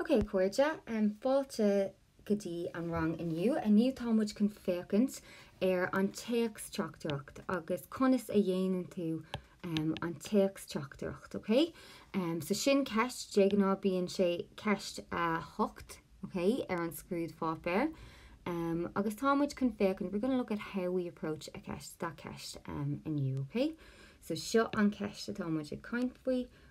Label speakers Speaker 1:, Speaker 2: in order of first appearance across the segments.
Speaker 1: Ok, cairde, fáilte go dtí an rang inniu. Inniu tá muid chun féachaint ar an téacs teachtaireacht agus conas a dhéanann tú an téacs teachtaireacht, ok? So sin ceist, de ghnáth bíonn sé ceist a hocht, ok, ar an scrúdpháipéar. Agus tá muid chun féachaint, we're going to look at how we approach the ceist, that ceist inniu, ok? So seo an cheist atá muid ag caint faoi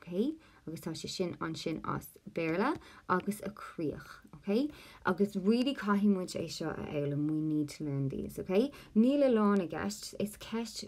Speaker 1: OK? Agus tá sé sin ansin as Béarla agus an críoch. OK? Agus really caithfidh muid é seo a fhoghlaim, we need to learn these. OK? Níl a lán i gceist, is ceist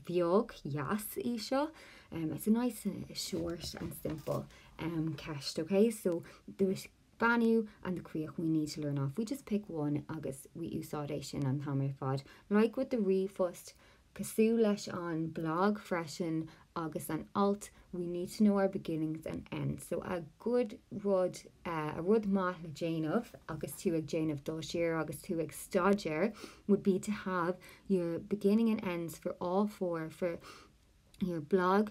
Speaker 1: bheag dheas í seo, it's a nice short and simple ceist. OK? So the beannú and the críoch, we need to learn off, we just pick one agus we úsáid é sin an t-am ar fad, like with the ríomhphost, Cosúil leis an blag freisin agus an alt we need to know our beginnings and ends, so a good rud, rud maith le déanamh agus tú ag déanamh dul siar agus tú ag staidéar would be to have your beginning and ends for all four for your blog,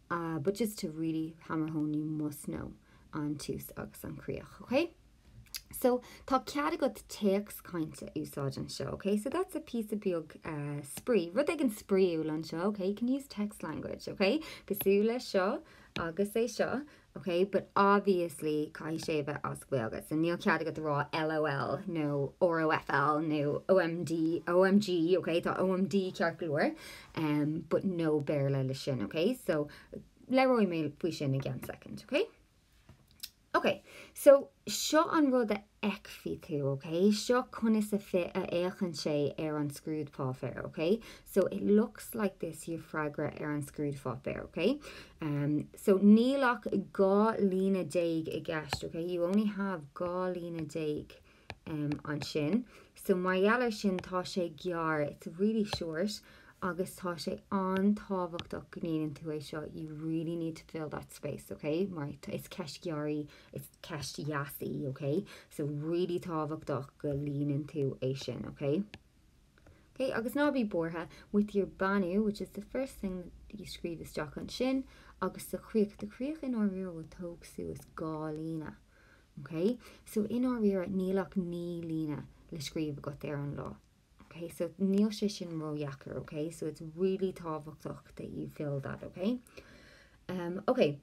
Speaker 1: but just to really hammer home you must know an tús agus an chríoch, ok? So tá cead agat téacs cainte a úsáid anseo, ok? So that's a píosa beag spraoi, rud éigin spraoiúil anseo, ok? You can use text language, ok? Cosúil le seo agus é seo, ok? But obviously caithfidh sé a bheith as Gaeilge, so níl cead agat a rá LOL nó ROFL nó OMD, OMG, ok? Tá OMD ceart go leor. em but no Béarla leis sin ok so labhróidh mé faoi sin i gceann soicind ok ok so seo an rud a fheicfidh tú ok seo conas a fhé a fhéachann sé ar an scrúdpháipéar ok so it looks like this your freagra ar an scrúdpháipéar ok em so níl ach dhá líne déag i gceist ok you only have dhá líne déag em, ansin. So, mar gheall ar sin, tá sé gearr, it's really short, agus tá sé an-tábhachtach go líonann tú é seo, you really need to fill that space, ok? Mar, is ceist ghearr í, is ceist dheas í, ok? So, really tábhachtach go líonann tú é sin, ok? Ok, agus ná bí buartha, with your beannú, which is the first thing that you scríobh isteach ansin, agus sa chríoch, do chríoch i ndáiríre, will tóg suas dhá líne. OK? So i ndáiríre, níl ach naoi líne le scríobh agat ar an lá. OK? So níl sé sin ródheacair, OK? So it's really tábhachtach that you fill that, OK? Um, OK.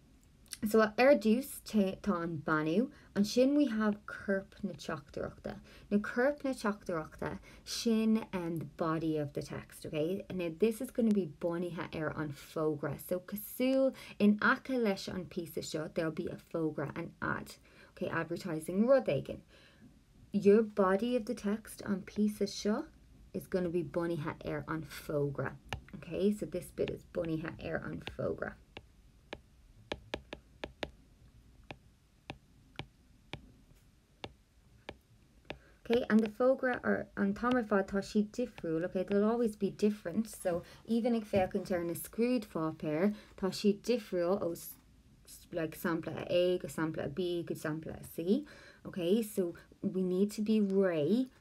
Speaker 1: So ar dtús tá an beannú, ansin we have corp na teachtaireachta. Now corp na teachtaireachta sin and the body of the text, ok. Now this is going to be bunaithe ar an fógra so cosúil in aice leis an píosa seo there'll be a fógra an ad, ok, advertising rud éigin. Your body of the text, an píosa seo, is going to be bunaithe ar an fógra, ok. So this bit is bunaithe ar an fógra. ok and the fógra or an t-am ar fad tá siad difriúil ok they will always be different so even ag féachaint ar na scrúdpháipéir tá siad difriúil ó like sampla A go sampla B go sampla C ok so we need to be réidh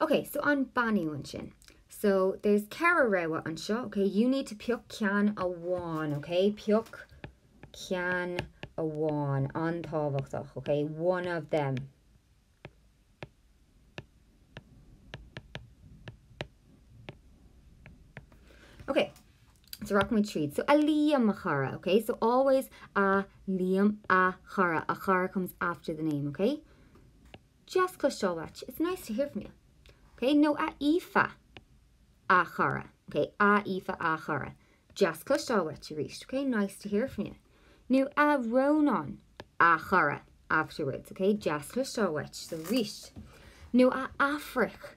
Speaker 1: Ok, so an bainniú ansin. So, there's ceithre rogha anseo, ok? You need to pioc ceann amháin, ok? Pioc ceann amháin, an-tábhachtach, ok? One of them. Ok, so rock my treat. So a Liam a chara, okay? So always a Liam a chara. A chara comes after the name, okay? Deas cloisteáil uait, it's nice to hear from you. Ok nó a Aoife, a chara. Ok, a Aoife, a chara. Deas cloisteáil uait arís, ok? Nice to hear from you. Nó a Rónán, a chara, afterwards, ok? Deas cloisteáil uait arís. Nó a Aifric.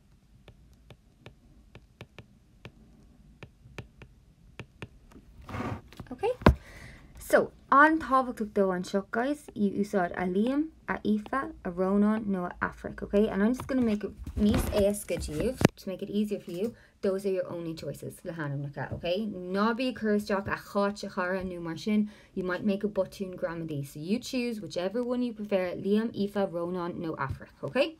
Speaker 1: Okay, so an-tábhachtach anseo, guys, úsáid a Liam, a Aoife, a Rónán nó a Aifric, okay? And I'm just going to make it níos éasca daoibh, to make it easier for you, those are your only choices le hainmneacha, okay? Ná bí ag cur isteach a Cháit a chara nó mar sin, you might make a botún gramadaí, so you choose whichever one you prefer, Liam, Aoife, Rónán nó Aifric, okay?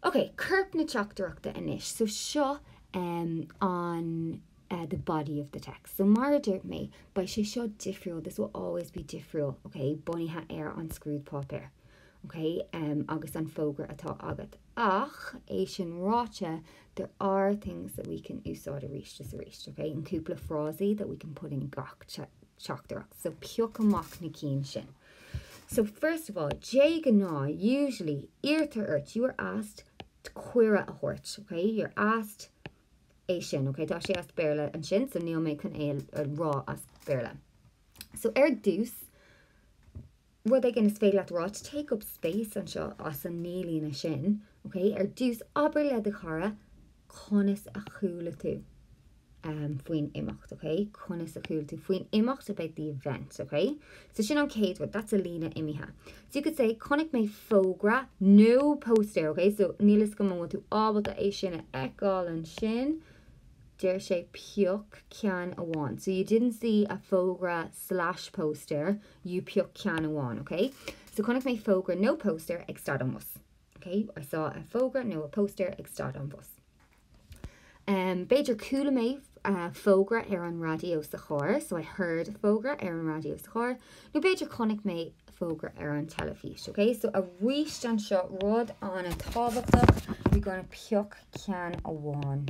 Speaker 1: Ok, corp na teachtaireachta anois. So seo an the body of the text. So mar a dúirt mé, beidh sé seo difriúil, this will always be difriúil, ok, bunaithe ar an scrúdpháipéar, ok, agus an fógra atá agat. Ach, é sin ráite, there are things that we can úsáid arís is arís, ok, and cúpla frásaí that we can put in gach teachtaireacht. So pioc amach na cinn sin. So, first of all, de ghnáth, usually, iarrtar ort, you are asked, cuireadh a thabhairt, ok? You're asked é sin, ok? Tá sé as Béarla ansin, so níl mé chun é a rá as Béarla. So, ar dtús, rud éigin is féidir leat a rá, to take up space anseo as an naoi líne sin, ok? Ar dtús, abair le do chara, conas a chuala tú faoin imeacht, ok? conas a chuala tú faoin imeacht about the event, ok? So sin an chéad rud, that's a líne imithe. So you could say chonaic mé fógra nó póstaer, ok? So níl 'fhios agam an bhfuil tú ábalta é sin a fheiceáil ansin, deir sé pioc ceann amháin. So you didn't see a fógra slash póstaer, you pioc ceann amháin, ok? So chonaic mé fógra nó póstaer ag stad an bhus. OK, I saw a fógra nó a poster ag stad an bhus. B'fhéidir chuala mé fógra ar an raidió sa charr, so I heard a fógra ar an raidió sa charr, nó b'fhéidir chonaic mé fógra ar an teilifís. OK, so aríst anseo, rud an-tábhachtach, we're going to pioc ceann amháin.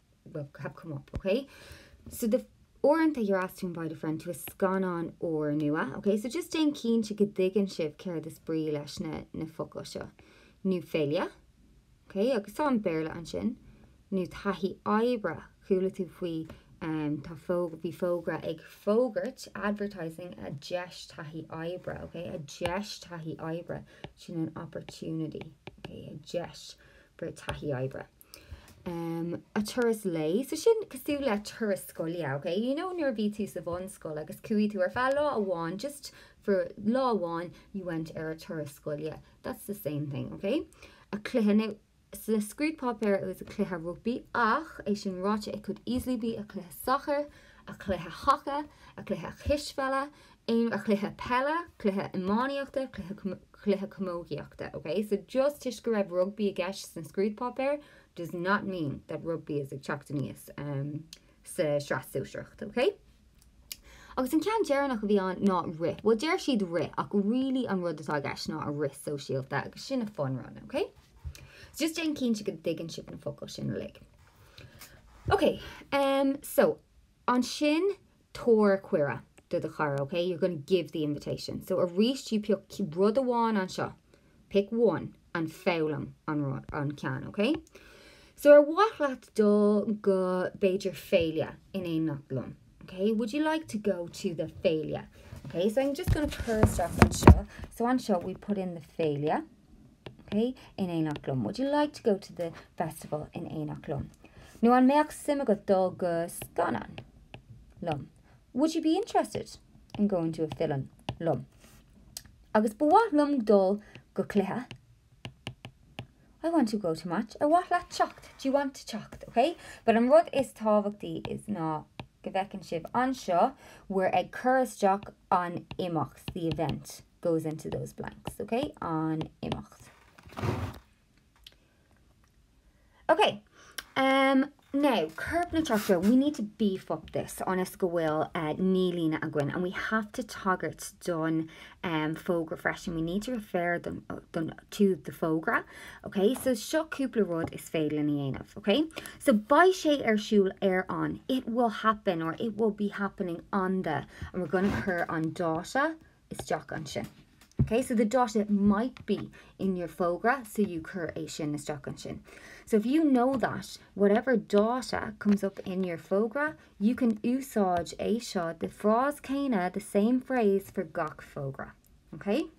Speaker 1: will have come up, ok. So the Uaireanta you're asked to invite a friend to a scannán úrnua, ok. So just déan cinnte go dtuigeann sibh céard is brí leis na, na focail seo. Nó féile, ok, agus tá an Béarla ansin. nó taithí oibre, chuala tú faoi, um, tá fó, bhí fógra ag fógairt, advertising, a deis taithí oibre, ok. A deis taithí oibre, sin an opportunity, ok, a deis for a taithí oibre. em a turas lae so sin cosúil le turas scoile ok you know nuair a bhí tú sa bhunscoil agus chuaigh tú ar feadh lá amháin just for lá amháin you went ar a turas scoile that's the same thing ok a cluiche now sa scrúdpáipéar it was a cluiche rugbaí ach é sin ráite it could easily be a cluiche sacair a cluiche haca a cluiche cispheile aon chluiche peile, cluiche iománaíochta, cluiche, cluiche camógaíochta, ok so just toisc go raibh rugbaí i gceist sna scrúdpáipéir does not mean that rugbaí is ag teacht aníos sa tSraith Shóisearach, ok? Agus an ceann deireanach a bhí ann ná rith, bhuel deir siad rith ach really an rud atá i gceist ná an rith sóisialta agus sin a fun run, ok? So just déan cinnte go dtuigeann sibh na focail sin uilig. Ok, so ansin tabhair cuireadh do do chara ok, you're going to give the invitation. So arís you pick rud amháin anseo, pick one, and foghlaim an ceann ok. So ar mhaith leat dul go b'fhéidir féile in éineacht liom ok, would you like to go to the féile ok, so I'm just going to cur isteach anseo, so anseo we put in the féile. OK, in éineacht liom. Would you like to go to the festival in éineacht liom? Nó an mbeadh suim agat dul go scannán liom? Would you be interested in going to a film liom? Agus ba mhaith liom dul go cluiche. I want to go to a match. Ar mhaith leat teacht? Do you want to teacht? OK? But an rud is tábhachtaí is ná go bhfeiceann sibh anseo we're ag cur isteach an imeacht, the event. goes into those blanks, ok? An imeacht. Ok, um, now, corp na teachtaireachta, we need to beef up this ionas go bhfuil uh, naoi líne againn and we have to tagairt don um, fógra freisin. We need to refer them, uh, them to the fógra. Ok, so seo cúpla rud is féidir leat a dhéanamh, ok? So beidh sé ar siúl ar an, it will happen or it will be happening on the, and we're going to cur an dáta isteach ansin. Ok, so the dáta, it might be in your fógra, so you cuir é sin isteach ansin. So if you know that whatever dáta comes up in your fógra, you can úsáid é seo the frása céanna, the same phrase for gach fógra. Ok?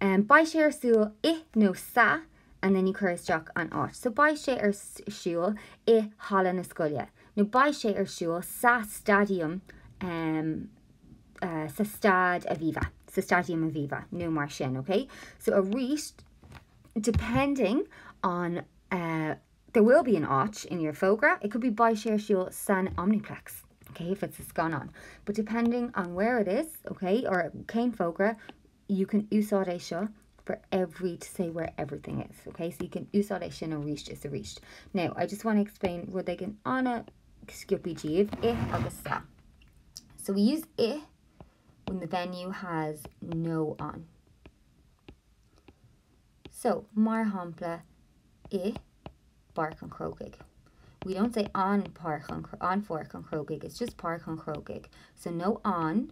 Speaker 1: Um, Beidh sé ar siúl i nó sa and then you cuir isteach an áit. So beidh sé ar siúl i halla na scoile nó beidh sé ar siúl sa staidiam em sa Staid Aviva sa Staidiam Aviva nó mar sin, okay? So arís depending on uh, there will be an áit in your fógra, it could be beidh sé ar siúl san Omniplex. Okay, if it's a scannán. But depending on where it is, okay, or cén fógra, you can úsáid é seo for every to say where everything is, ok? So you can úsáid é sin aríst is aríst. Now, I just want to explain rud éigin ana-sciobtha daoibh, i agus sa. So we use i when the venue has no an. So, mar shampla, i bPáirc an Chrócaigh. We don't say an Páirc an, an Pháirc an Chrócaigh, it's just Páirc an Chrócaigh. So no an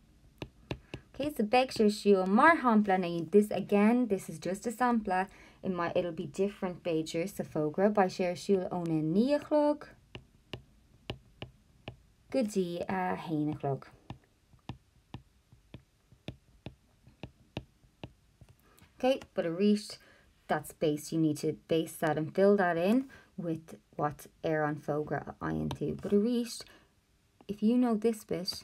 Speaker 1: Okay so beidh sé ar siúl, mar shampla, now this again, this is just a sampla in my it'll be different b'fhéidir sa bhfógra beidh sé ar siúl óna naoi a chlog go dtí a haon a chlog. Okay, but arís, that's based, you need to base that and fill that in with what ar an fógra a fhaigheann tú. But arís, if you know this bit,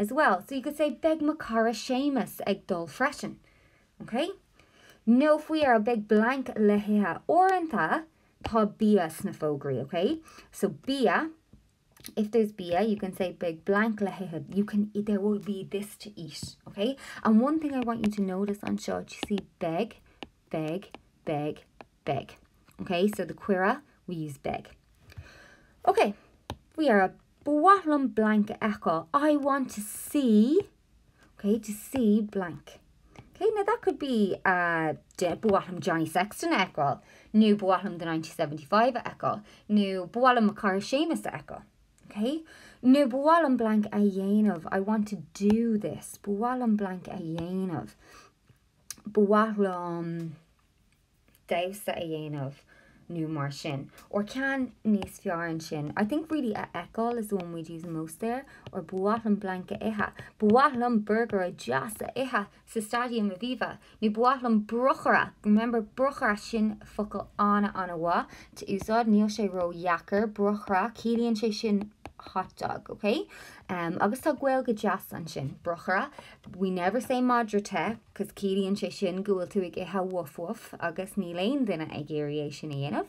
Speaker 1: as well, so you could say beidh mo chara Séamus ag dul freisin, ok? Nó faoi dheireadh, beidh blank le hithe. Uaireanta, tá bia sna fógraí, ok? So bia, if there's bia, you can say beidh blank le hithe, you can, there will be this to eat, ok? And one thing I want you to notice anseo, do you see beidh, beidh, beidh, beidh, ok? So the cuireadh, we use beidh. Ok, faoi dheireadh, Ba mhaith liom blank a fheiceáil, I want to see, ok, to see blank. Ok, now that could be a de, ba mhaith liom Johnny Sexton a fheiceáil, nó ba mhaith liom The 1975 a fheiceáil, nó ba mhaith liom mo chara Séamus a fheiceáil. Ok, nó ba mhaith liom blank a dhéanamh, I want to do this, ba mhaith liom blank a dhéanamh, ba mhaith liom. damhsa a dhéanamh nó mar sin, or ceann níos fearr ansin, I think really a fheiceáil is one we'd use most there, or ba mhaith liom blank a ithe, ba mhaith liom burgaire deas a ithe sa Staidiam Aviva, nó ba mhaith liom brocaire, remember brocaire, sin focal an-an-mhaith to úsáid, níl sé ró-dheacair, brocaire, ciallaíonn sé sin hotdog, ok? Agus tá Gaeilge deas ansin, brocaire, We never say madra te, 'cause ciallaíonn sé sin go bhfuil tú ag ithe woof woof agus níl aon duine ag iarraidh é sin a dhéanamh.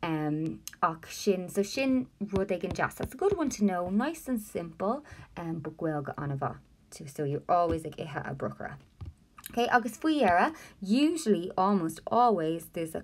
Speaker 1: em, ach sin, so sin rud éigin deas, that's a good one to know, nice and simple, em, but Gaeilge an-mhaith, so you're always ag ithe a brocaire. Okay, agus faoi dheireadh, usually, almost always, there's a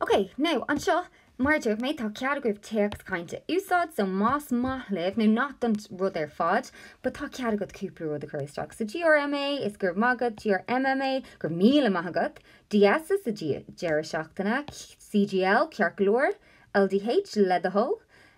Speaker 1: OK, now, anseo, mar a dúirt mé, tá cead agaibh téacs cainte a úsáid, so más maith libh, nó not don rud ar fad, but tá cead agat cúpla rud a chur isteach. So GRMA, is go raibh maith agat, GRMMA, go raibh míle maith agat, DS, sa deireadh seachtaine, CGL, ceart go leor, LDT, le do thoil,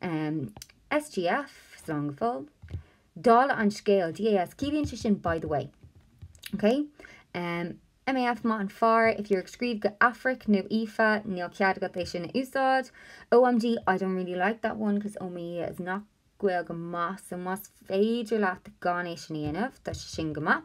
Speaker 1: SGF, slán go fóill, dála an scéil, DAS, ciallaíonn sé sin by the way. OK? MAF, Maith an fear, if you're ag scríobh chuig Aifric nó Aoife, níl cead agat é sin a úsáid. OMG, I don't really like that one cos oh my is not Gaeilge mhaith so más féidir leat gan é sin a dhéanamh, tá sé sin go maith.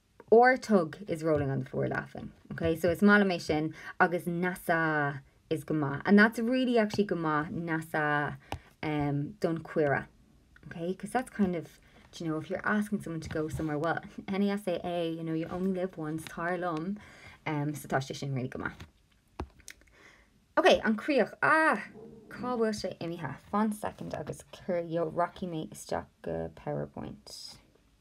Speaker 1: or tug is rolling on the floor laughing, ok so is maith liom é sin agus nasa is go maith and that's really actually go maith nasa um don cuireadh ok because that's kind of do you know if you're asking someone to go somewhere well nasa é you know you only live once tar liom um so tá sé sin really go maith ok an críoch ah cá bhfuil sé imithe fan second agus cur yo rocky mé isteach go powerpoint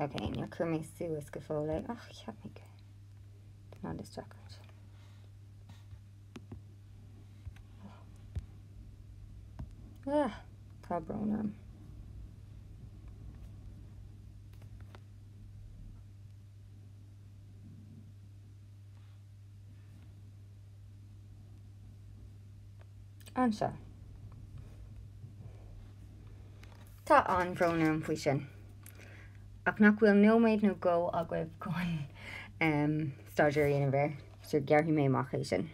Speaker 1: Ok, now cuirfidh mé suas go fóill é. Ach, cheap mé go. Tá ná distracted. Ah, tá brón orm. anseo. Tá an-bhrón orm faoi sin, ach nach bhfuil nóiméad nó dhó agaibh chun staidéar a dhéanamh air, so gearrfaidh mé amach é sin.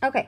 Speaker 1: Okay.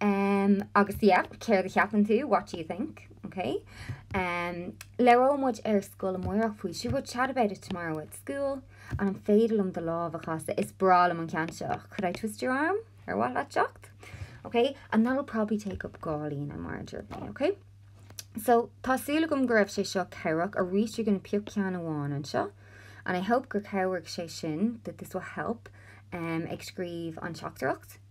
Speaker 1: Um, agus yeah, céard a cheapann tú? What do you think? Ok. Um, Labhróidh muid ar scoil amáireach faoi seo. We'll chat about it tomorrow at school. An féidir liom do lámh a chasadh? Is breá liom an ceann seo. Could I twist your arm? Ar mhaith leat teacht? Ok. And that'll probably take up dhá líne mar a deir mé, ok? So, tá súil agam go raibh sé seo cabhrach. Arís you're going to pick ceann amháin anseo. And I hope gur chabhraigh sé sin, that this will help, um, ag scríobh an teachtaireacht.